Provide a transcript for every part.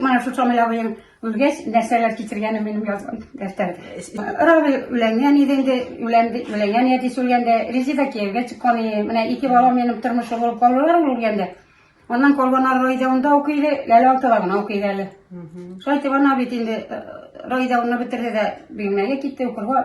Менә шул самый абыем үлгәч, нәрсәләр кичергәнен минем язган дәфтәр. Рабый үләнгән иде инде, үләнде, үләнгән әтисе үлгәндә, Резеда кияүгә чыккан иде. Менә ике бала минем тормышлы булып калдылар ул үлгәндә. Аннан калган Раида унда укый иде, Ләлә алтыда гына укый иде әле. Шулай итеп ана бит инде э, Раида уны бетерде дә Бөгелмәгә китте укырга.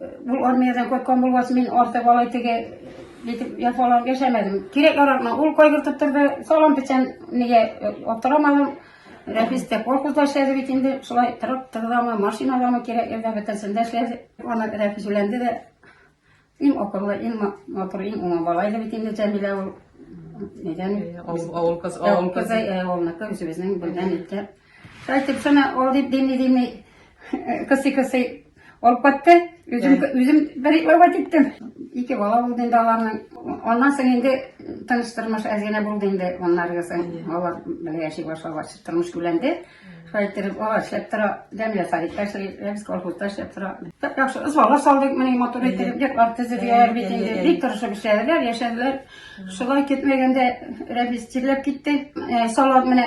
Бу армиядән кайткан булгач, мин артык алай теге итеп яфаланып яшәмәдем. Кирәк-яракны ул кайгыртып торды, салам печән нигә э, аптырамадым. Рәфис тә колхозда эшләде бит инде, шулай трактордамы, машинадамы кирәк ерда бөтенсендә эшләде. Аны Рәфис үләнде дә, иң акыллы, иң матур, иң уңа бала иде бит инде Җәмилә ул. Нидән? Авыл кызы, авыл кызы. Авыл кызы, авылныкы, үзебезнең белгән иткән. Кайтып сана ул дип дими дими кысы кысы алып кайтты. Үзем үзем бер итләвә киттем. Ике бала булды инде аларның. Аннан соң инде тыныч тормыш әзгенә булды инде аннары соң. Алар бергә яши башлагач тормыш гүләнде. Кайтып алар эшләп тора, дәм ясар итә, без колхозда эшләп тора. Тап яхшы ызбалар салдык, менә мотор итеп, дип арты зөбияр бит инде. Бик тырышып эшләделәр, яшәделәр. Шулай көтмәгәндә Рәбис тирләп китте. Салат менә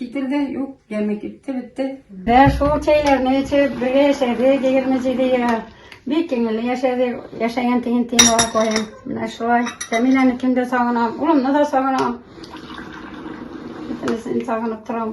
Китерде, юк, яме китте, бетте. Бә шул чәйләрне эчеп, бергә яшәдек, егерме җиде ел. Бик күңелле яшәдек, яшәгән тиген тиен бала каен. Менә шулай. Тәмиләне кемдә сагынам, улымны да сагынам. Бөтенесен сагынып торам.